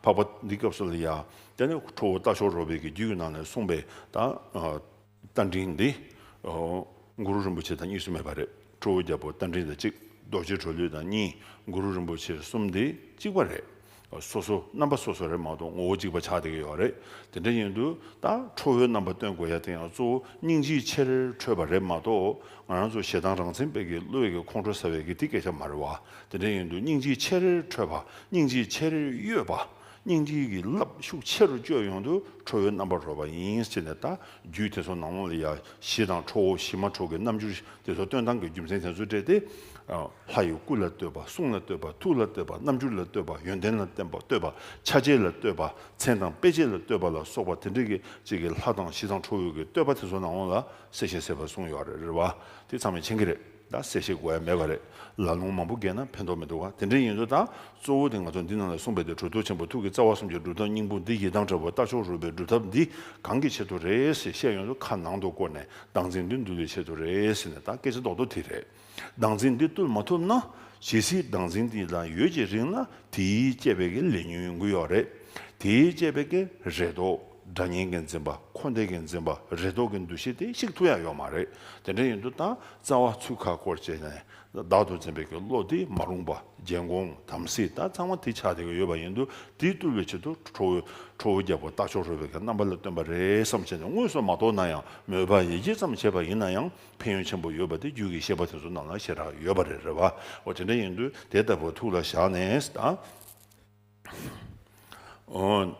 འཕགས་པ་འདི་སྐབས་སུ་ལ་ཡ། དེ་ནས་ཁྲོ་བོ་རྟ་མཆོག་རོལ་པའི་གི་རྒྱུད་ཀྱི་ནང་ནས་གསུངས་པའི་རྟ་མགྲིན་འདི། གུ་རུ་རིན་པོ་ཆེ་དང་གཉིས་སུ་མེད་པ་རེད། ཁྲོ་བོའི་རྒྱལ་པོ་རྟ་མགྲིན་དང་གཅིག། རྡོ་རྗེ་གྲོ་ལུས་དང་གཉིས། གུ་རུ་རིན་པོ་ཆེ་གསུམ་འདི་གཅིག་པ་རེད། སོ་སོ་རྣམ་པ་སོ་སོ་རེད་མ་གཏོགས་ངོ་བོ་གཅིག་པ་ཆགས་བསྡད་ཀྱི་ཡོད་རེད། དེ་འདྲ་ཡིན་དུས་ད་ཁྲོ་བོའི་རྣམ་པ་སྟོན་དགོས་ཡ་དེ་ཡང་གཙོ་བོ་སྙིང་རྗེའི་ཕྱིར་ཁྲོས་པ་རེད་མ་གཏོགས་ང་རང་ཚོ་ཞེ་སྡང་རང་མཚན་དཔེ་གི་བློས་གི་ཁོང་ཁྲོ་ཟ་བའི་གི་དེ་སྐད་ཆ་མ་རེད་བ། དེ་འདྲ་ཡིན་དུས་སྙིང་རྗེའི་ཆེ་རེ་འཕྲོད་པ་སྙིང་རྗེའི་ཆེ་རེ་གཡོས་པ་སྙིང་རྗེ་གི་རླབས་ཤུགས་ཆེ་རུ་བསྐྱོད་ཡོང་དུས་ཁྲོ་བོའི་རྣམ་པར་རོལ་བ་ཡིན་ཅེས་ནས་དང་རྒྱུད་དེ་ཚོ་ནང་ལོགས་ལ་ཡ་བཞི་དང་ཁྲོ་བོ་བཞི་མ་ཁྲོ་གི་རྣམ་འགྱུར་དེ་ཚོ་སྟོན་སྟངས་ཀྱི་རྒྱུ་མཚན་དེ་ཚོ་སྤྲད་དེ། ལྷ་ཡི་སྐུ་ལ་བསྟོད་པ་གསུང་ལ་བསྟོད་པ་ཐུགས་ལ་བསྟོད་པ་རྣམ་འགྱུར་ལ་བསྟོད་པ་ཡོན་ཏན་ལ་བསྟོད་པ་ཆ་བྱད་ལ་བསྟོད་པ་མཚན་དང་དཔེ་བྱད་ལ་བསྟོད་པ་ལ་སོགས་པ་དེ་འདྲ་གི་ཅིག་གི་ལྷ་དང་བཞི་དང་ཁྲོ་བོའི་གི་བསྟོད་པ་དེ་ཚོ་ནང་ལོགས་ལ་གསལ་ཞིང་གསལ་བར་གསུངས་ཡོད་རེད་བ་དེ་ཚང་མས་མཁྱེན་གི་རེད། ད་གསལ་བཤད་དགོས་ཡ་མེད་པ་རེད། ལ་ལུང་མང་པོ་བརྒལ་ན་ཕན་ཐོག་མི་འདུག་ག་དེ་འདྲའི་ཡིན་ཚོད་དང། གཙོ་བོ་དེ་ང་ཚོ་འདི་ནང་ལ་གསུངས་པའི་དེ་གྲོལ་ཐུགས་ཆེན་པོ་ཐུགས་ཀྱི་རྩ་བ་གསུམ་གྱི་སྒྲུབ་ཐབས་སྙིང་པོ་འདི་ཡི་དམ་ཁྲོལ་བ་ལྟ་ཕྱོགས་རོལ་པའི་སྒྲུབ་ཐབས་འདི་གང་གི་ཆེད་དུ་རེད་ཟེར་བཤད་ཡོང་ཚོད་ཁ་ནང་དུ་བསྐོར་ནས་སྡང་རྩིང་འདི་འདུལ་བའི་ཆེད་དུ་རེད་ཟེར་ནས་ད་སྐད་ཆ་ལྡོག་ལྡོག་དེ་རེད། སྡང་རྩིང་འདི་བཏུལ་མ་ཐུབ་ན། ཇི་སྲིད་སྡང་རྩིང་འདི་ལ་ཡོད་ཀྱི་རིང་ལ་དེའི་དཔྱད་པའི་ལས་ཉོན་ཡོང་གི་ཡོད་རེད། དེའི་དཔྱད་པའི་རེད་དོ། སྒྲ་བརྙན་དགེ་འཛིན་པ་འཁོར་འདས་དགེ་འཛིན་པ་རེ་དོགས་ཀྱི་འདུ་ཤེས་དེ་གཅིག་ཐུག་ཡ་ཡོད་མ་རེད་དེ་འདྲ་ཡིན་དུ་ད་རྩ་བ་ཚུལ་ཁ་སྐོར་བྱས་ནས་བདག་ཏུ་འཛིན་པའི་གི་བློ་དེ་མ་རུངས་པ་རྒྱལ་འགོང་དམ་སྲི་ད་ཚང་མ་དེ་ཆགས་བསྡད་ཀྱི་ཡོད་པ་ཡིན་དུ་དེ་བཏུལ་བའི་ཆེད་དུ་ཁྲོ་བོའི་ཁྲོ་བོ་རྒྱལ་པོ་རྟ་མཆོག་རོལ་བའི་གི་རྣམ་པ་ལ་བཏོན་པ་རེད་བསམ་བྱས་ནས་དངོས་སུ་མ་རྟོགས་ན་ཡང་མོས་པ་ཡིད་ཆེས་ཙམ་བྱས་པ་ཡིན་ན་ཡང་ཕན་ཡོན་ཆེན་པོ་ཡོད་པ་དེ་རྒྱུད་ཀྱི་བཤད་པ་དེ་ཚོ་རྣམས་ལ་ཤེས་རག་ཡོད་པ་རེད་རེད་བ་འོ་དེ་འདྲ་ཡིན་དུ་དེ་ལྟ་བུ་ཐུགས་ལ་བཞག་ནས་ད།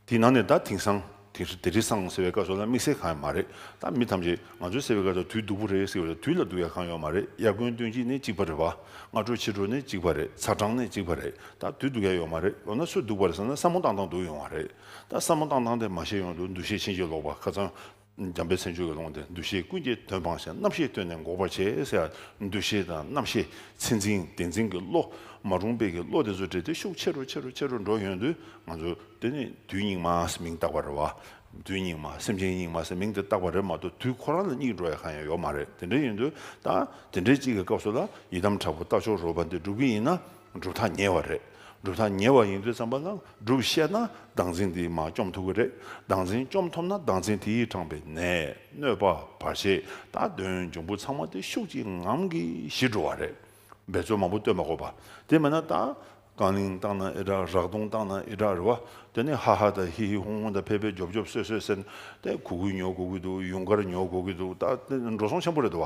དེའི་ནང་ནས་ད་དེང་སང་དེ་རི་སང་ཟེར་བའི་སྐབས་སོགས་ན་དམིགས་བསལ་གང་ཡང་མ་རེད་ད་མི་ཐམས་ཅད་ང་ཚོའི་ཟེར་བའི་སྐབས་སོགས་དུས་སྡུག་པོ་རེད་ཟེར་བ་ལ་དུས་ལ་སྡུག་ཡ་གང་ཡོང་མ་རེད་དབྱར་དགུན་སྟོན་དཔྱིད་ནི་གཅིག་པ་རེད་བ་སྔ་དྲོ་ཕྱི་དྲོ་ནི་གཅིག་པ་རེད་ཚ་གྲང་ནི་གཅིག་པ་རེད་ད་དུས་སྡུག་ཡ་ཡོང་མ་རེད་ལོ་ན་ཚོད་སྡུག་པ་རེད་བསམ་ན་བསམ་མོ་བཏང་བཏང་སྡུག་ཡོང་བ་རེད་ད་བསམ་མོ་བཏང་བཏང་སྟེ་མ་ཤེས་ཡོང་དུ་འདུ་ཤེས་ཕྱིན་ཅི་ལོག་པ་ཁ་ཚང། འཇམ་པའི་སེམས་ཆོས་ཀྱི་ཀློང་དེར་འདུ་ཤེས་ཀུན་གྱི་དོན་སྤངས་ཤིང་རྣམ་ཤེས་བཏོན་ནས་འགོག་པར་བྱེད། འདུ་ཤེས་དང་རྣམ་ཤེས་ཚད་འཛིན་བདེན་འཛིན་གྱི་བློ། མ་རུངས་དཔེ་གྱི་བློ་དེ་ཚོ་འདྲེས་ཏེ་ཤུགས་ཆེ་རུ་ཆེ་རུ་ཆེ་རུ་འགྲོ་ཡོང་དུས་ང་ཚོ། དེ་ནི་དུས་སྙིགས་མ་ཟེར་མིང་བཏགས་པ་རེད་བ། དུས་སྙིགས་མ་སེམས་ཅན་སྙིགས་མ་ཟེར་མིང་དེ་བཏགས་པ་རེད་མ་གཏོགས་དུས་ཁོ་རང་ལ་སྙིགས་འགྲོ་ཡ་གང་ཡང་ཡོད་མ་རེད་དེ་འདྲ་ཡིན་དུས་ད་དེ་འདྲའི་གཅིག་གི་སྐབས་སུ་ལ་ཡི་དམ་དྲག་པོ་རྟ་མཆོག་རོལ་པ་འདི་སྒྲུབ་ཀྱི་ཡིན་ན། གྲུབ་མཐའ་ཉེ་བ་རེད། གྲུབ་མཐའ་ཉེ་བ་ཡིན་ཚུལ་བསམ་པ་ན་སྒྲུབ་བཤད་ན་ལྡང་ཚིག་འདིས་མ་བཅོམ་ཐུབ་ཀྱི་རེད། ལྡང་ཚིག་བཅོམ་ཐུབ་ན་ལྡང་ཚིག་དེས་དྲངས་པའི་ནས་གནོད་པ་བར་ཆད་དང་གདོན་འབྱུང་པོ་ཚང་མ་དེ་ཤུགས་ཀྱིས་ངང་གིས་ཞི་འགྲོ་བ་རེད། འབད་རྩོལ་མང་པོ་བསྟོད་མ་གོ་བ། དེ་མེད་ན་ད། རྐང་གླིང་བཏང་ན་ཨི་དྲག་རག་དུང་བཏང་ན་ཨི་དྲག་རེད་བ། དེ་ནས་ཧ་ཧ་དང་ཧི་ཧི་ཧུང་ཧུང་དང་ཕེ་ཕེ་རྒྱོབ་རྒྱོབ་སོད་སོད་ཟེར། དེ་གུ་གུལ་ཉོ་དགོས་ཀྱི་འདུག་ཡུངས་ཀར་ཉོ་དགོས་ཀྱི་འདུག་ད། འགྲོ་སོང་ཆེན་པོ་རེད་བ།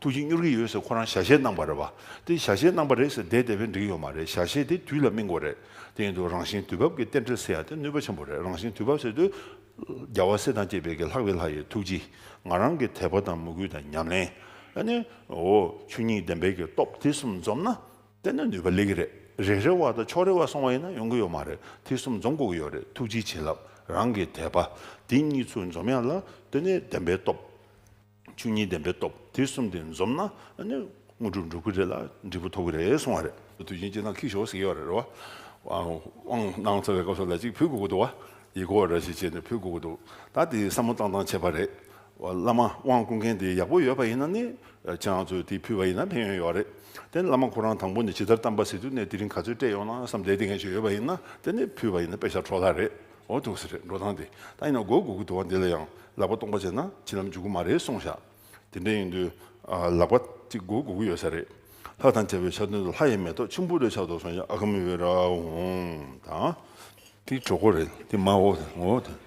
ཐུགས་ཀྱིས་གཉོར་གྱི་ཡོད་ཟེར་ཁོ་རང་ཞལ་བཞེས་གནང་བ་རེད་བ། དེ་ཞལ་བཞེས་གནང་བ་རེད་ཟེར་བསྡད་བསྡད་པས་འགྲིག་ཡོད་མ་རེད་ཞལ་བཞེས་དེ་དུས་ལ་སྨིན་དགོས་རེད། དེ་ཡིན་དུས་རང་བཞིན་དུས་བབ་ཀྱི་རྟེན་འབྲེལ་ཟེར་ཡ་དེ་ནུས་པ་ཆེན་པོ་རེད་རང་བཞིན་དུས་བབ་ཟེར་དུས། རྒྱལ་བ་སྲས་དང་བཅས་པའི་གི་ལྷག་བའི་ལྷ་ཡི་ཐུགས་རྗེ། ང་རང་གི་དད་པ་དང་མོས་གུས་དང་ཉམས་ལེན། ཨ་ནི། འོ། ཆོས་ཉིད་བདེན་པའི་གི་སྟོབས་དེ་གསུམ་འཛོམས་ན། བསྟན་ན་ནུས་པ་ལེགས་ཀྱི་རེད་རེ་རེ་བ་དང་ཕྱོགས་རེ་བ་སོང་བ་ཡིན་ན་ཡོང་གི་ཡོད་མ་རེད་དེ་གསུམ་འཛོམས་དགོས་ཀྱི་ཡོད་རེད་ཐུགས་རྗེའི་བྱིན་རླབས་རང་གི་དད་པ། དེ་གཉིས་ཚུལ་འཛོམས་ཡ་ལ་དེ་ནི་བདེན་པའི་སྟོབས། ཆོས་ཉིད་བདེན་པའི་སྟོབས་དེ་གསུམ་དེ་འཛོམས་ན་དངོས་གྲུབ་འགྲུབ་གི་རེད་ལ་འབྲས་བུ་ཐོབ་གི་རེད་གསུང་བ་རེད། དུས་ཆེན་སྤྱི་དང་ཁིག་ཞོག་ཟེར་གྱི་ཡོད་རེད་རོ། དབང་གནང་ཚར་བའི་སྐབས་སུ་ལ་གཅིག་བུད་དགོས་ཀྱི་འདུག་བ། ཡིད་སྐོར་ར་ཞིག་བྱས་ནས་བུད་དགོས་ཀྱི་འདུག་ད་དེ་བསམ་བློ་བཏང་བཏང་བྱས་པ་རེད། བླ་མ་དབང་བསྐུར་མཁན་དེ་ཡག་པོ་ཡོད་པ་ཡིན་ན་ནི་ཁྱེད་རང་ཚོས་དེ་ཕུལ་བ་ཡིན་ན་ཕན་ཡོན་ཡོད་རེད། དེ་ནི་བླ་མ་ཁོ་རང་དང་པོ་ནས་ཇི་ལྟར་གཏམ་པ་ཟེར་དུས་ནས་དེ་རིང་ག་ཚོད་སྤྲད་ཡོང་ན་བསམ་བསྡད་དེ་འགན་ཞིག་ཡོད་པ་ཡིན་ན་དེ་ནི་ཕུལ་བ་ཡིན་ན་དཔེ་ཆ་འཕྲོག་ལ་རེད། འོ་ཐུགས་ཟེར་འགྲོ་སྟངས་དེ་ད་ཡིན་ན་མགོ་སྒུར་གི་འདུག་བ་འདི་ལ་ཡང་ལག་པ་སྟོང་པ་བྱས་ན་ཕྱི་ལམ་འཇུག་གི་མ་རེད་སོང་ཤག་དེ་འདྲ་ཡིན་དུས་ལག་པ་གཅིག་མགོ་སྒུར་གི་ཡོད་ས་རེད་ལྷ་དང་བཅས་པའི་ཆ་མཐུན་དུ་ལྷ་ཡི་མེ་ཏོག་ཆུན་པོ་རེ་ཆགས་འདུག་སོང་ཤག་ཨ་ཁ་མི་བོད་ར་ཧུང་དང། དེ་གྲོགས་པོ་རེད་དེ་མ་འོ་དང་འོ་དང།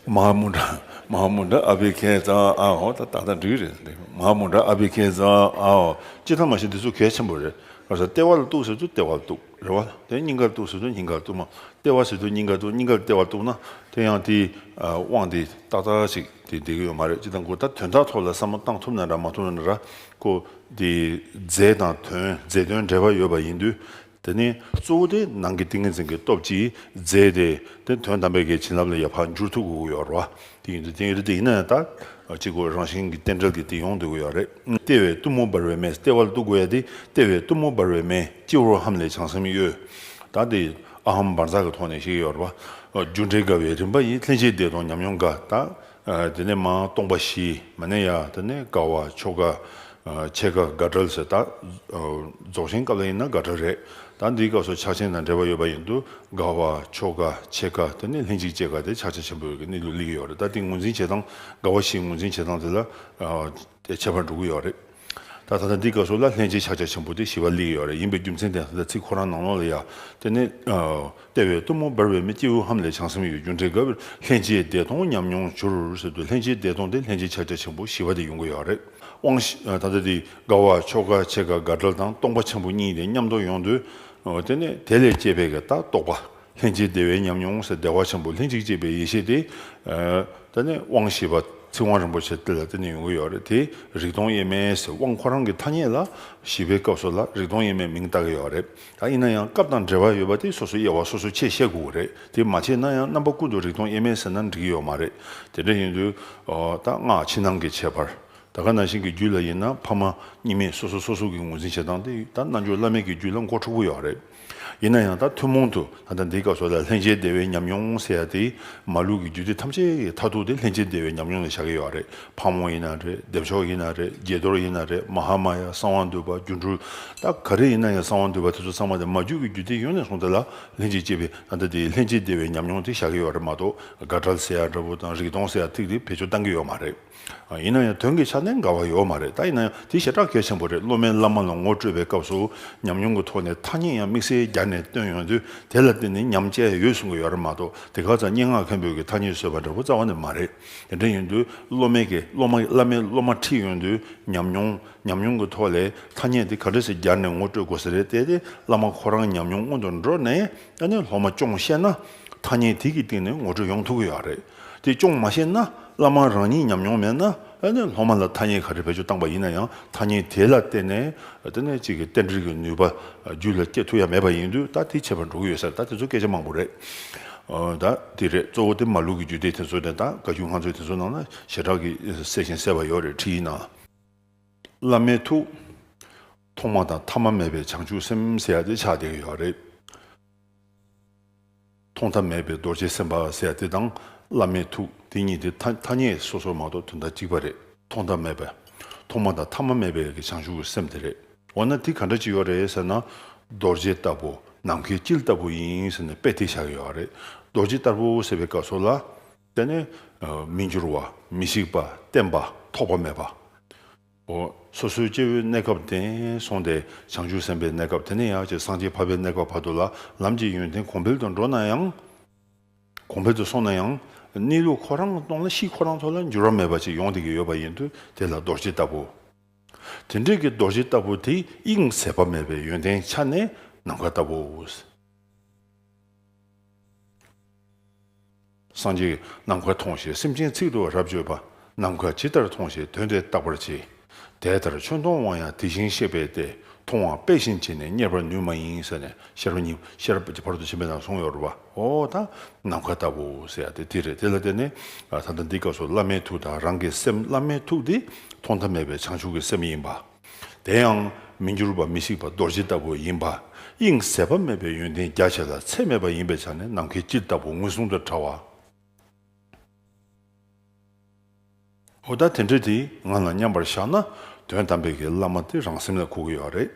མ་མོ་འདྲ་མ་མོ་འདྲ་ཨ་བྷི་ཁེ་ཛ་ཨ་འོ་ད་ད་ད་འགྲིག་རེད་འདི་མ་མོ་འདྲ་ཨ་བྷི་ཁེ་ཛ་ཨ་འོ་སྤྱིར་ཐང་མ་ཤེས་འདི་ཚོ་གལ་ཆེན་པོ་རེད་ཁ་སར་ལྟེ་བ་ལ་གཏུག་ཟེར་དུས་ལྟེ་བ་ལ་གཏུག། རེ་བ། དེ་སྙིང་གར་གཏུགས་ཟེར་དུས་སྙིང་གར་གཏུགས་མ། ལྟེ་བ་ཟེར་དུས་སྙིང་གར་གཏུགས་སྙིང་གར་ལྟེ་བར་གཏུགས་ན་དེ་ཡང་དེའི་དབང་དེ་ཏག་ཏག་ཅིག་དེ་བསྡད་ཀྱི་ཡོད་མ་རེད་ཅི་ལྟར་འགོ་ད་དོན་དག་ཐོག་ལ་བསམ་བློ་བཏང་ཐུབ་ན་འདྲ་མ་ཐུབ་ན་འདྲ་ཀོ། དེ་རྫས་དང་དོན་རྫས་དོན་འབྲེལ་བ་ཡོད་པ་ཡིན་དུས་དེ་ནི་གཙོ་བོ་དེ་ནང་གི་ཏིང་ངེ་འཛིན་གྱི་སྟོབས་ཀྱིས་རྫས་དེ་དེ་དོན་དམ་པའི་གལ་བྱིན་རླབས་ལ་ཡར་འཕར་འགྱུར་ཐུབ་དགོས་ཀྱི་ཡོད་རེད་བ། དེ་ཡིན་དུས་དེང་རི་དེ་ཡིན་ན་ཡང་ད་ཅི་དགོས་རང་བཞིན་གྱི་རྟེན་འབྲེལ་གྱི་དེ་ཡོང་དུས་དགོས་ཡག་རེད་ལྟེ་བའི་གཏུམ་མོ་འབར་བའི་མེས་ལྟེ་བར་གཏུག་དགོས་ཡག་དེ་ལྟེ་བའི་གཏུམ་མོ་འབར་བའི་མེས་སྤྱི་བོར་ཧམ་ལས་བྱང་སེམས་གཡོ་ད་དེ་ཨ་ཧམ་འབར་འཛག་གི་ཐོག་ནས་ཤེས་ཀྱི་ཡོད་རེད་པ་རྒྱུ་འབྲས་དགའ་བའི་རིམ་པ་ཡིན་ལྷན་ཅིག་བདེ་སྟོང་ཉམས་མྱོང་དགའ་ད་དེ་ནས་མ་སྟོང་པ་བཞི་མ་ནས་ཡག་ད་ནས་དགའ་བ་མཆོག་དགའ། ཆེད་དགའ་དགའ་བྲལ་ཟེར། ད་རྫོགས་ཆེན་སྐབས་ལ་ཡིན་ན་དགའ་བྲལ་རེད། ད་འདིའི་སྐབས་སུ་ཕྱག་ཆེན་དང་འབྲེལ་བ་ཡོད་པ་ཡིན་དུ་དགའ་བ། ཆོ་ག། ཆེད་དགའ་དེ་ནི་ལྷན་ཅིག་སྐྱེས་དགའ་དེ་ཕྱག་ཆེན་ཆེན་པོ་ཡོད་ཀྱི་གནས་ལུགས་གླེང་གི་ཡོད་རེད་ད་དེ་ངོས་འཛིན་བྱེད་སྟངས་དགའ་བ་ཞིག་ངོས་འཛིན་བྱེད་སྟངས་དེ་ལ། དེ་ཁྱད་པར་འགྲོ་གི་ཡོད་རེད། ད་ད་ལྟ་འདིའི་སྐབས་སུ་ལ་ལྷན་ཅིག་ཕྱག་ཆེན་ཆེན་པོ་དེ་ཞི་བ་གླེང་གི་ཡོད་རེད་ཡིན་པའི་རྒྱུ་མཚན་དེ་ད་ཚིག་ཁོ་རང་ནང་ལོགས་ལ་ཡ་དེ་ནི། ལྟེ་བའི་གཏུམ་མོ་འབར་བའི་མི་སྐྱེས་ཧཱུྃ་ཧཱུྃ་ལས་བྱང་སེམས་ཡོད་རྒུ་འབྲེལ་གབ། ལྷན་སྐྱེས་བདེ་སྟོང་ཉམས་མྱོང་བྱུར། ལྷན་སྐྱེས་བདེ་སྟོང་དེ་ལྷན་སྐྱེས་ཕྱག་རྒྱ་ཆེན་པོ་ཞི་བ་དེ་ཡོང་གི་ཡོད་རེད། དབང། ད་ལྟ་དེ་དགའ་བ་མཆོག་དགའ་ཆེ་དགའ་དགའ་བྲལ་དང་སྟོང་པ་ཆེན་པོ་གཉིས་དེ་མཉམ་དུ་ཡོང་དུས། དེ་ནས་དེ་ལས་སྐྱེས་པའི་ལྟ་རྟོག་པ། ལྷན་སྐྱེས་བདེ་བའི་ཉམས་མྱོང་བདེ་བ་ཆེན་པོ་ལྷན་ཅིག་སྐྱེས་པའི་ཡེ་ཤེས་དེ། ད་ནས་དབང་ཞེས་པ་ཚིག་དབང་རིན་པོ་ཆེ་དེ་ལ་བརྟེན་ནས་ཡོང་གི་ཡོད་རེད་དེ། རིག་སྟོང་དབྱེར་མེད་ཟེར་དབང་ཁོ་རང་གི་ཐ་སྙད་ལ། ཞི་བའི་སྐབས་སོགས་ལ་རིག་སྟོང་དབྱེར་མེད་མིང་བཏགས་ཀྱི་ཡོད་རེད། ད་ཡིན་ན་ཡང་སྐབས་དང་འབྲེལ་བ་ཡོད་པ་དེ་སོ་སོའི་དབྱེ་བ་སོ་སོས་ཕྱེས་བཤད་དགོས་ཀྱི་རེད་དེ་མ་བྱས་ན་ཡང་རྣམ་པ་ཀུན་ཏུ་རིག་སྟོང་དབྱེར་མེད་ཟེར་ན་འགྲིག་གི་ཡོད་མ་རེད་དེ་འདྲ་ཡིན་དུས། ད་སྔགས་ཕྱི་ནང་གི་ཁྱད་པར། ད་ག་ན་ཞིག་གི་རྒྱུད་ལ་ཡིན་ན་ཕ་མ་གཉིས་མེད་སོ་སོ་སོ་སོ་གི་ངོས་འཛིན་བྱེད་སྟངས་དེ་ད་རྣལ་འབྱོར་བླ་མེད་ཀྱི་རྒྱུད་ལ་མགོ་འཁྲུག་པོ་ཡོད་རེད། ཡིན་ན་ཡང་ད་ཐུན་མོང་དུ། ད་ལྟ་འདིའི་སྐབས་སུ་ལྷན་སྐྱེས་བདེ་བའི་ཉམས་མྱོང་ཟེར་ཡ་དེ་མ་ལུས་ཀྱི་རྒྱུད་སྡེ་ཐམས་ཅད་ཀྱི་མཐར་ཐུག་དེ་ལྷན་སྐྱེས་བདེ་བའི་ཉམས་མྱོང་ནས་བཞག་གི་ཡོད་པ་རེད་ཕག་མོ་ཡིན་ན་རེད་སྡེབ་ཆོག་ཡིན་ན་རེད་དགྱེས་རྡོར་ཡིན་ན་རེད་མ་ཧཱ་མ་ཡ་གསང་བ་འདུས་པ་སྒྱུ་འཕྲུལ་རྟ་ག་རེ་ཡིན་ན་ཡང་གསང་བ་འདུས་པ་དེ་ཚོ་ཚང་མ་དེ་མ་རྒྱུད་ཀྱི་རྒྱུད་སྡེ་ཡོངས་ནས་བཟུང་དེ་ལ་ལྷན་སྐྱེས་སྐྱེས་པའི་ད་ལྟ་འདིའི་ལྷན་སྐྱེས་བདེ་བའི་ཉམས་མྱོང་དེ་བཞག་གི་ཡོད་པ་རེད་མ་གཏོགས་དགའ་བྲལ་ཟེར་ཡ་འདྲ་བོ་དང་རིག་སྟོང་ཟེར་ཡ་ཐིག་རིག་བེད་སྤྱོད་བཏང་གི་ཡོད་མ་རེད། ཡིན་ན་ཡང་དོན་གྱི་ཆ་ནས་འགལ་བ་ཡོད་མ་རེད་ད་ཡིན་ན་ཡང་དེ་ཞེ་དྲག་གལ་ཆེན་པོ་རེད་སློབ་མའི་བླ་མ་ལ་ངོ་སྤྲོད་པའི་སྐབས་སུ་ཉམས་མྱོང་གི་ཐོག་ནས་ཐ་སྙད་ཡང་དམིགས་བསལ་སྦྱར་ནས་བཏོན་ཡོང་དུས་དེ་ལ་བརྟེན་ནས་ཉམས་དཔྱད་ཡོད་གསུང་གི་ཡོད་རེད་མ་གཏོགས་དེ་ག་ཙང་སྙན་ངག་མཁན་པོས་ཀྱི་ཐ་སྙད་བཟོས་པ་འདྲ་པོ་རྩ་བ་ནས་མ་རེད་དེ་འདྲ་ཡིན་དུས་སློབ་མའི་ཀྱི་སློབ་མ་བླ་མའི་སློབ་མ་ཁྲིད་ཡོང་དུས་ཉམས་མྱོང་ཉམས་མྱོང་གི་ཐོག་ལས་ཐ་སྙད་དེ་ག་འདྲ་ཞིག་སྦྱར་ནས་ངོ་སྤྲོད་དགོས་ས་རེད་བལྟས་ཏེ་བླ་མ་ཁོ་རང་ཉམས་མྱོང་སྔོན་དུ་འགྲོ་ནས་ནས་སློབ་མ་སྐྱོང་ཤེས་ན་ཐ་སྙད་དེ་གི་སྟེང་ནས་ངོ་སྤྲོད་ཡོང་ཐུབ་ཀྱི་ཡོད་རེད། དེ་ཅུང་མ་ཤེས་ན་བླ་མ་རང་ཉིད་ཉམས་མྱོང་མེད་ན་ཨེ་ནས་སློབ་མ་ལ་ཐ་སྙད་ག་རེ་བེད་སྤྱོད་བཏང་པ་ཡིན་ན་ཡང་ཐ་སྙད་དེ་ལ་བརྟེན་ནས་དེ་ནས་གཅིག་གི་རྟེན་འབྲེལ་གྱི་ནུས་པ་རྒྱུད་ལ་སྐྱེ་ཐུབ་ཡ་མེད་པ་ཡིན་དུས་ད་དེ་བྱེད་པར་འགྲོ་གི་ཡོད་ས་རེད་ད་དེ་ཚོ་སྐད་ཆ་མང་པོ་རེད་ད་དེ་རེད་གཙོ་བོ་དེ་མ་ལུག་གི་རྒྱུད་སྡེ་དེ་ཚོ་རེད་ད་བཀའ་རྒྱུད་ང་ཚོའི་དེ་ཚོ་ནང་ན་ཞེ་དྲག་གི་གསལ་ཞིང་གསལ་བ་ཡོད་རེད་ཁྲིད་ཡིན་ན། བླ་མའི་ཐུགས། ཐོག་མ་དང་ཐ་མ་མེད་པའི་བྱང་ཆུབ་སེམས་ཟེར་ཡ་དེ་ཆགས་བསྡད་ཀྱི་ཡོད་རེད། མཐོང་ཐབས་མེད་པའི་རྡོ་རྗེ་སེམས་དཔའ་ཟེར་དེ་དང་བླ་མའི་ཐུགས་དེ་གཉིས་དེ་ཐ་སྙད་སོ་སོར་མ་གཏོགས་དོན་དག་གཅིག་པ་རེད་མཐོང་ཐབས་མེད་པའི། ཐོག་མ་དང་ཐ་མ་མེད་པའི་བྱང་ཆུབ་ཀྱི་སེམས་དེ་རེད་འོ་ན་དེ་ག་འདྲ་ཅི་ཡོད་རེད་ཟེར་ན། རྡོ་རྗེ་ལྟ་བུ་ནམ་མཁའི་དཀྱིལ་ལྟ་བུ་ཡིན་ཟེར་ནས་དཔེ་དེ་བཞག་ཡོད་རེད་རྡོ་རྗེ་ལྟ་བུ་ཟེར་བའི་སྐབས་སོགས་ལ། དེ་ནི། མི་འགྱུར་བ། མི་ཤིགས་པ། བརྟན་པ། ཐོགས་པ་མེད་པ། སོ་སོའི་སྐྱེ་བོའི་གནས་སྐབས་དེ་སོང་སྟེ་བྱང་ཆུབ་སེམས་དཔའི་གནས་སྐབས་དེ་ནས་ཡང་བསྐྱེད་སངས་རྒྱས་འཕགས་པའི་གནས་སྐབས་བར་དུ་ལ་ལམ་གྱི་ཡོན་ཏན་གོང་འཕེལ་དུ་འགྲོ་ན་ཡང། གོང་འཕེལ་དུ་སོང་ན་ཡང། གནས་ལུགས་ཁོ་རང་སྟོང་ལ་གཤིས་ཁོ་རང་ཚོ་ལ་འགྱུར་བ་མེད་པ་ཅིག་ཡོང་སྡད་ཀྱི་ཡོད་པ་ཡིན་དུས་དེ་ལ་རྡོ་རྗེ་ལྟ་བུ། དེ་འདྲས་ཀྱི་རྡོ་རྗེ་ལྟ་བུ་དེ་དབྱིངས་ཟད་པ་མེད་པའི་ཡོན་ཏན་ཆ་ནས་ནམ་མཁའ་ལྟ་བུ། སངས་རྒྱས། ནམ་མཁའ་མཐོང་ཞེས་སེམས་ཅན་ཚིག་ཏུ་རབ་བརྗོད་པ། ནམ་མཁའ་ཇི་ལྟར་མཐོང་ཞེས་དོན་འདི་བརྟག་པར་བྱེད། དེ་ལྟར་ཆོས་མཐོང་བ་ཡང་དེ་བཞིན་གཤེགས་པས་ཏེ་མཐོང་བ་དཔེ་བཞིན་བྱས་ནས་གཉེར་བར་ནུས་མ་ཡིན་ཟེར་ནས་ཤེར་པ་ཉིད་ཤེར་ཀྱི་བར་དུ་བྱེད་མི་དང་གཟུང་ཡོར་བའོ་དང་ནམ་མཁའ་ལྟ་བུ་ཟེར་ཡང་དེ་རེད་དེ་ལ་བརྟེན་ནས་ད་ལྟ་འདི་སྐབས་སུ་བླ་མའི་ཐུགས་དང་རང་གི་སེམས་བླ་མའི་ཐུགས་འདི་ཐོག་མཐའ་མེད་པའི་བྱང་ཆུབ་ཀྱི་སེམས་ཡིན་པ། དེ་ཡང་མི་འགྱུར་བ་མི་ཤིགས་པ་རྡོ་རྗེ་ལྟ་བུ་ཡིན་པ། དབྱིངས་ཟད་པ་མེད་པའི་ཡོན་ཏན་རྒྱ་ཆེ་ལ་ཚད་མེད་པ་ཡིན་པའི་ཆ་ནས་ནམ་མཁའི་དཀྱིལ་ལྟ་བུ་ངོས་བཟུང་དུ་བྲ་བ། འོ་ད་དེ་འདྲ་དེ་ང་ལ་མཉམ་པར་བཞག་ན་དོན་དམ་པའི་གི་བླ་མ་དེ་རང་སེམས་ལ་གོ་གི་ཡོད་རེད།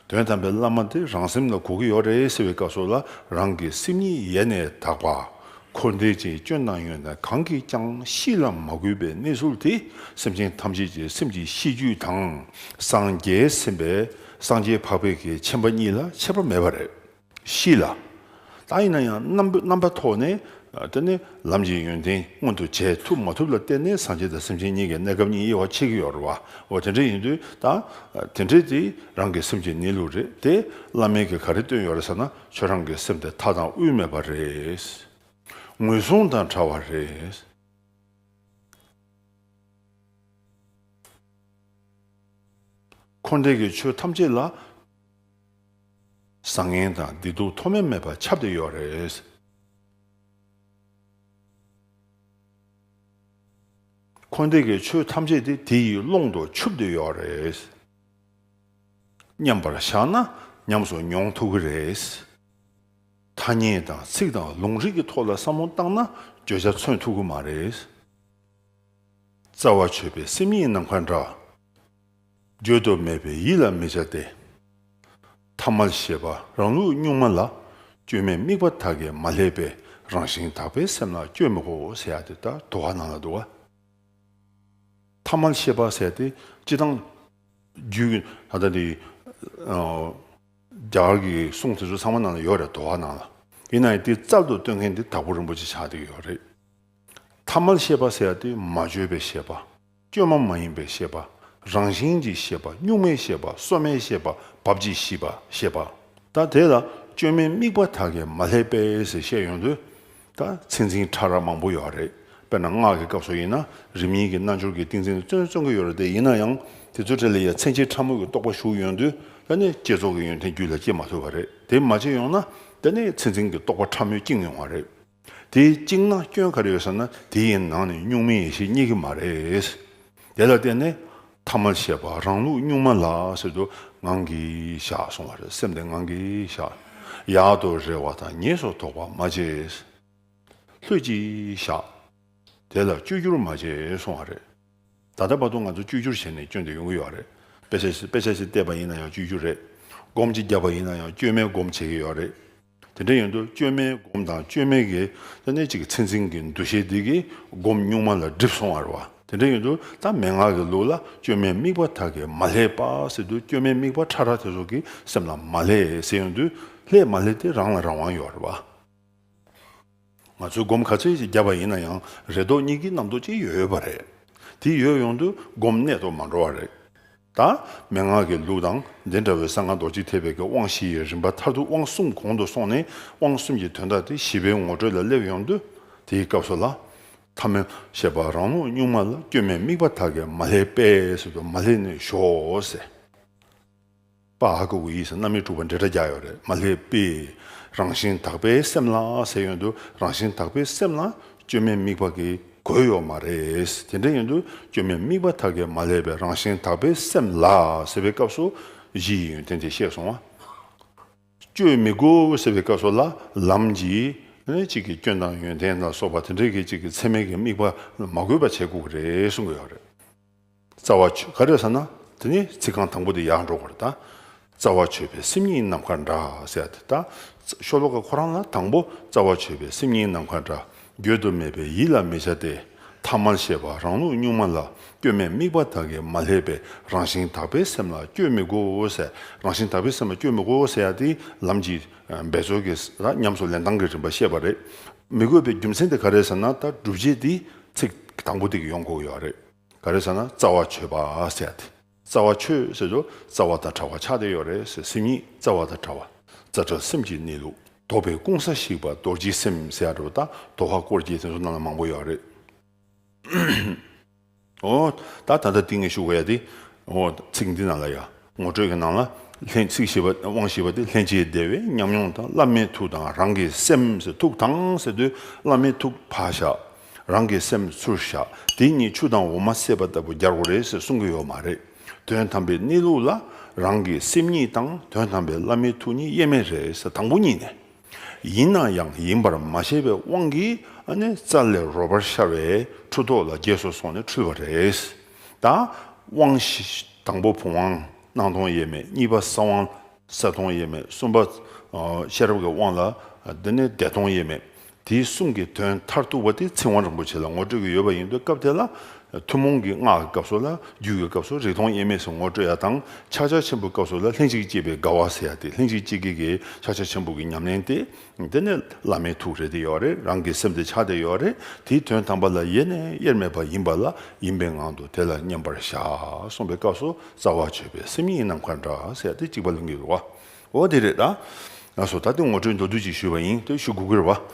དོན་དམ་པའི་བླ་མ་དེ་རང་སེམས་ལ་གོ་གི་ཡོད་རེད་ཟེར་བའི་སྐབས་སོགས་ལ་རང་གི་སེམས་ཉིད་ཡེ་ནས་དག་པ། འཁོར་འདས་ཀྱི་སྐྱོན་སྣང་ཡོད་ན་གང་གིས་ཀྱང་གཤིས་ལ་མ་གུས་པའི་གནས་ཚུལ་དེ་སེམས་ཅན་ཐམས་ཅད་ཀྱི་སེམས་ཀྱི་གཤིས་རྒྱུད་དང་སངས་རྒྱས་སེམས་དཔའ་སངས་རྒྱས་འཕགས་པའི་གེགས་ཆེན་པ་གཉིས་ལ་ཆད་པ་མེད་པ་རེད། གཤིས་ལ་དག་ཡིན་ན་ཡང་རྣམ་པ་ཐོག་ནས་བལྟས་ནས་ལམ་གྱི་ཡོན་ཏན་མངོན་དུ་བྱས་ཐུབ་མ་ཐུབ་ལ་བལྟས་ནས་སངས་རྒྱས་དང་སེམས་ཅན་གཉིས་ཀྱི་གནས་སྐབས་གཉིས་དབྱེ་བ་ཕྱེ་གི་ཡོད་རེད་བ། འོ་དེ་འདྲ་ཡིན་དུས་ད་དེ་འདྲས་དེ་རང་གི་སེམས་ཀྱི་གནས་ལུགས་རེད་དེ། བླ་མེད་ཀྱི་ག་རེ་བཏོན་ཡོད་རེད་ཟེར་ན། ཁྱོད་རང་གི་སེམས་དེ་མཐའ་དང་དབུས་མེད་པ་རེད། ངོས་བཟུང་དང་བྲལ་བ་རེད། འཁོར་འདས་ཀྱི་ཆོས་ཐམས་ཅད་ལ། བཟང་ངན་དང་བདེ་སྡུག་མཐོ་དམན་མེད་པར་ཁྱབ་སྟེ་ཡོད་རེད། འཁོར་འདས་ཀྱི་ཆོས་ཐམས་ཅད་དེ་དེ་ཡི་ཀློང་དུ་ཆུབ་སྟེ་ཡོད་རེད། མཉམ་པར་བཞག་ན་ཉམས་སུ་མྱོང་ཐུབ་ཀྱི་རེད། ཐ་སྙད་དང་ཚིག་དང་ལུང་རིགས་ཀྱི་ཐོག་ལ་བསམ་བློ་བཏང་ན་བརྗོད་བྱ་མཚོན་ཐུབ་ཀྱི་མ་རེད། རྩ་བ་ཆོད་པའི་སེམས་ཉིད་ནམ་མཁའ་འདྲ། བརྗོད་དུ་མེད་པའི་ཡིད་ལ་མི་བྱ་སྟེ། ཐ་མལ་ཞེས་པ་རང་ལུགས་གཉུག་མ་ལ་བཅོས་མའི་དམིགས་པ་དག་གིས་མ་ལྷད་པའི་རང་བཞིན་དག་པའི་སེམས་ལ་བཅོས་མི་གོ་ཟེར་ཡག་དེ་ལྟར་དུ་བ་ནང་ལ་འདུག་ག། ཐ་མལ་ཤེས་པ་ཟེར་ཏེ་ཅི་དང། རྒྱུད་ཀྱི། ད་ལྟ་འདི། རྒྱ་གར་གྱི་གསུང་དེ་ཚོ་ཚང་མ་ནང་ལ་ཡོད་རེད་དོ་ཨ་ནང་ལ། ཡིན་ནའི་དེ་རྩལ་དུ་སྟོན་མཁན་དེ་དྭགས་པོ་རིན་པོ་ཆེ་ཆགས་བསྡད་ཀྱི་ཡོད་རེད། ཐ་མལ་ཤེས་པ་ཟེར་དེ་མ་བཅོས་པའི་ཤེས་པ། བཅོས་མ་མ་ཡིན་པའི་ཤེས་པ། རང་བཞིན་གྱི་ཤེས་པ་གཉུག་མའི་ཤེས་པ་སོ་མའི་ཤེས་པ་བབ་ཅིག་ཤིས་པ་ཤེས་པ། ད་དེ་ལ་བཅོས་མའི་དམིགས་པ་དག་གིས་མ་ལྷད་པས་ཟེར་བཤད་ཡོང་དུས། ད་ཚེ་འཛིན་གྲྭ་ར་མང་པོ་ཡོད་རེད་དཔེར་ན་སྔགས་ཀྱི་སྐབས་སུ་ཡིན་ན་རིམ་གཉིས་ཀྱི་རྣལ་འབྱོར་གྱི་ཏིང་འཛིན་ལ་བརྩོན་བརྩོན་གྱི་ཡོད་རེད་དེ་ཡིན་ན་ཡང་དེ་ཚོའི་གྲས་ལ་ཡ་མཚན་ཆེ་ཕྲ་མོ་གི་རྟོགས་པ་ཞུགས་ཡོང་དུས་ད་ནི་བསྐྱེད་རྫོགས་ཀྱི་ཡོན་ཏན་རྒྱུད་ལ་སྐྱེ་མ་ཐུབ་པ་རེད་དེ་མ་བྱས་ཡོང་ན་ད་ནི་ཚེ་འཛིན་གྱི་རྟོགས་པ་ཕྲ་མོས་བསྐྱིངས་ཡོང་བ་རེད། དེ་བསྐྱིངས་ན་སྐྱོན་ག་རེ་ཡོད་ཟེར་ན་དེ་ཡི་ནང་ནས་གཉུག་མའི་ཡེ་ཤེས་རྙེད་ཀྱི་མ་རེད། དེ་ལ་བརྟེན་ནས་ཐ་མ་ཞེས་པ་རང་ལུགས་གཉུག་མ་ལ་ཟེར་དུ་ངང་གིས་བཞག་སོང་བ་རེད་སེམས་དེ་ངང་གིས་བཞག། ཡག་ཏུ་རེ་བ་དང་ཉེས་སུ་དོགས་པ་མ་བྱེད། ལྷོད་ཀྱིས་བཞག། དེ་ལ་བཅོས་སྒྱུར་མ་བྱེད་སོང་བ་རེད། ད་ལྟ་བར་དུ་ང་ཚོ་བཅོས་སྒྱུར་བྱས་ནས་སྐྱོན་དེ་ཡོང་གི་ཡོད་རེད། དཔེ་ཆ་ཞིག་བལྟས་པ་ཡིན་ན་ཡང་བཅོས་སྒྱུར་རེད། སྒོམ་ཅིག་བརྒྱབ་པ་ཡིན་ན་ཡང་བཅོས་མའི་སྒོམ་བྱེད་ཀྱི་ཡོད་རེད། དེ་འདྲ་ཡིན་དུས་བཅོས་མའི་སྒོམ་དང་བཅོས་མའི་གེགས་ཏེ་གནད་གཅིག་གི་ཚེ་འཛིན་གྱི་འདུ་ཤེས་དེ་གིས་སྒོམ་གཉུག་མ་ལ་སྒྲིབ་སོང་བར་བ། དེ་འདྲ་ཡིན་དུས་ད་མན་ངག་གི་ལུགས་ལ་བཅོས་མའི་དམིགས་པ་དག་གིས་མ་ལྷད་པ་ཟེར་དུས་བཅོས་མའི་དམིགས་པ་ཕྲ་རགས་དེ་ཚོ་གི་སེམས་ལ་མ་ལྷད་ཟེར་ཡོང་དུས་ལྷད་མ་ལྷད་དེ་རང་ལ་རང་དབང་ཡོད་བར་བ། ང་ཚོས་སྒོམ་ག་ཚད་ཅིག་བརྒྱབ་པ་ཡིན་ན་ཡང་རེ་དོགས་གཉིད་ཀྱི་རྣམ་རྟོག་ཅིག་ཡོད་ཡོད་པ་རེད། དེ་ཡོད་ཡོང་དུས་སྒོམ་གནད་དུ་མ་འགྲོ་བ་རེད། ད་མན་ངག་གི་ལུགས་དང་འདི་འདྲ་བོའི་ས་ངག་རྡོ་རྗེ་ཐེག་པའི་གི་དབང་བཞི་ཡི་རིམ་པ་མཐར་ཐུག་དབང་གསུམ་གོང་དུ་སོང་ནས་དབང་གསུམ་གྱི་དོན་དག་དེ་བཞི་པའི་ངོ་སྤྲོད་ལ་སླེབས་ཡོང་དུས་དེའི་སྐབས་སུ་ལ། ཐ་མལ་ཞེས་པ་རང་ལུགས་གཉུག་མ་ལ་སྐྱོན་མེད་དམིགས་པ་དག་གིས་མ་ལྷད་པས་སུ་དུ་མ་ལྷད་ནས་ཞོག་ཟེར། པཱ་ཧཱ་གུ་ཡིས་རྣམ་དབྱེ་དྲུག་པ་འབྲེལ་སྒྲ་རྒྱག་ཡོད་རེད་མ་སླེབས་པས། རང་བཞིན་དག་པའི་སེམས་ལ་ཟེར་ཡོད་འདུག་རང་བཞིན་དག་པའི་སེམས་ལ་བཅོས་མའི་དམིགས་པ་གིས་གོས་ཡོད་མ་རེད། དེ་འདྲ་ཡིན་དུས་བཅོས་མའི་དམིགས་པ་དག་གིས་མ་སླེབས་པས་རང་བཞིན་དག་པའི་སེམས་ལ་ཟེར་བའི་སྐབས་སུ་གཞི་ཡི་ཡོན་ཏན་དེ་བཤད་སོང་བ། བཅོས་མའི་གོས་ཟེར་བའི་སྐབས་སུ་ལ་ལམ་གྱི། གཅིག་གི་སྐྱོན་དང་ཡོན་ཏན་ལ་སོགས་པ་དེ་འདྲའི་གི་གཅིག་གི་ཚད་མའི་གི་དམིགས་པ་མ་གོས་པ་བྱས་དགོས་ཀྱི་རེད་གསུང་གི་ཡོད་རེད། རྩ་བ། ག་རེ་ཟེར་ན་དེ་ནི་ཚིག་རྐང་དང་པོ་དེ་ཡག་འགྲོ་བར་དང། རྩ་བ། ཆོས་པའི་སེམས་ཉིད་ནམ་མཁའ་འདྲ་ཟེར་དེ་དང། ཤོ་ལོ་ཀ་ཁོ་རང་ལ་དང་པོ་རྩ་བ། ཆོས་པའི་སེམས་ཉིད་ནམ་མཁའ་འདྲ། བརྗོད་དུ་མེད་པའི་ཡིད་ལ་མི་བྱ་སྟེ། ཐ་མལ་ཤེས་པ་རང་ལུགས་གཉུག་མ་ལ་སྐྱོན་མེད་དམིགས་པ་དག་གིས་མ་ལྷད་པའི་རང་བཞིན་དག་པའི་སེམས་ལ་སྐྱོན་མི་དགོ་ཟེར་རང་བཞིན་དག་པའི་སེམས་ལ་སྐྱོན་མི་དགོ་ཟེར་ཡ་དེ་ལམ་གྱི་འབད་རྩོལ་གྱི་ཉམས་སུ་ལེན་སྟངས་ཀྱི་རིམ་པ་བཤད་པ་རེད། མི་དགོས་པའི་རྒྱུ་མཚན་དེ་ག་རེ་ཟེར་ན་ད་སྒྲུབ་བྱེད་དེ་ཚིག་དང་པོ་དེ་ཡོང་གོ་ཡོད་རེད། ག་རེ་ཟེར་ན་རྩ་བ་ཆོད་པ་ཟེར་ཏེ། རྩ་བ་ཆོད་ཟེར་དུས་རྩ་བ་དང་བྲལ་བ་ཆགས་བསྡད་ཡོད་རེད་ཟེར་སེམས་ཉིད་རྩ་བ་དང་བྲལ་བ། རྩ་བྲལ་སེམས་ཀྱི་གནས་ལུགས་རྟོགས་པའི་ཀུན་ས་ཞིག་པ་རྡོ་རྗེ་སེམས་ཟེར་རོ་དང་རྡོ་བྷ་སྐོར་གྱི་དེ་ཚོ་རྣམས་ལ་མང་པོ་ཡོད་རེད། ཨོ། ད་ད་ལྟ་དེ་ངས་ཞུ་གོ་ཡ་དེ། ཨོ། ཚིག་འདི་རྣམས་ལ་ཡ། ངོ་སྤྲོད་ཀྱི་ནང་ལ་ལྷན་ཚིག་ཞེས་པ་དབང་ཞེས་པ་དེ་ལྷན་སྐྱེས་བདེ་བའི་ཉམས་མྱོང་དང་བླ་མའི་ཐུགས་དང་རང་གི་སེམས་སུ་ཐུགས་དང་ཟེར་དུས་བླ་མའི་ཐུགས་ཕར་བཞག་རང་གི་སེམས་ཚུར་བཞག་དེ་གཉིས་ཆུ་དང་འོ་མ་བསྲེས་པ་ལྟ་བུ་རྒྱར་གོ་རེད་ཟེར་གསུང་གི་ཡོད་མ་རེད། དོན་དམ་པའི་གནས་ལུགས་ལ་རང་གི་སེམས་ཉིད་དང་དོན་དམ་པའི་བླ་མའི་ཐུགས་གཉིས་དབྱེར་མེད་རེད་ཟེར་དང་པོ་གཉིས་ནས། ཡིན་ན་ཡང་ཡིན་པར་མ་བྱས་པའི་དབང་གིས་ནི་རྩ་ལས་རོལ་པར་ཤར་བས་འཁྲུལ་རྟོག་ལ་རྒྱས་སོ་སོགས་ནས་འཁྲུལ་བ་རེད། དང། དབང་བཞི། དང་པོ་བུམ་དབང། སྣང་སྟོང་དབྱེར་མེད་གཉིས་པ་ས་དབང། ས་སྟོང་དབྱེར་མེད་གསུམ་པ། ཤེས་རབ་ཀྱི་དབང་ལ། འདི་ནི་བདེ་སྟོང་དབྱེར་མེད། དེ་གསུམ་གྱི་དོན་མཐར་ཐུག་པ་དེ་ཚིག་དབང་རིན་པོ་ཆེ་ལ་ངོ་སྤྲོད་ཀྱི་ཡོད་པ་ཡིན་པས་སྐབས་དེ་ལ་ཐུན་མོང་གི་སྔགས་ཀྱི་སྐབས་སོགས་ལ་རྒྱུད་ཀྱི་སྐབས་སུ་རིག་སྟོང་དབྱེར་མེད་ཟེར་ངོ་སྤྲོད་ཡ་དང་ཕྱག་ཆ་ཆེན་པོའི་སྐབས་སོགས་ལ་ལྷན་ཅིག་སྐྱེས་པའི་དགའ་བ་ཟེར་ཡ་དེ་ལྷན་ཅིག་སྐྱེས་དགེ་དགེའི་ཕྱག་ཆ་ཆེན་པོ་གྱི་ཉམས་ལེན་ཏེ། དེ་ནས་བླ་མའི་ཐུགས་རེ་དེ་ཡོད་རེད་རང་གི་སེམས་དེ་ཕྱག་དེ་ཡོད་རེད་དེའི་དོན་དམ་པ་ལ་ཡེ་ནས་དབྱེར་མེད་པ་ཡིན་པ་ལ་ཡིན་པའི་ངང་དུ་དེ་ལ་མཉམ་པར་བཞག་གསུངས་པའི་སྐབས་སུ་རྩ་བ་བརྗོད་པའི་སེམས་ཉིད་ནམ་མཁའ་འདྲ་ཟེར་ཡ་དེ་གཅིག་པ་ལུང་གི་རུ་བ་འོ་དེ་རེད་ད། ང་སོ་ད་དེ་ངོ་སྤྲོད་མདོར་བསྡུས་ཅིག་ཞུས་པ་ཡིན་ཏེ་ཞུ་དགོས་ཀྱི་རུ་བ།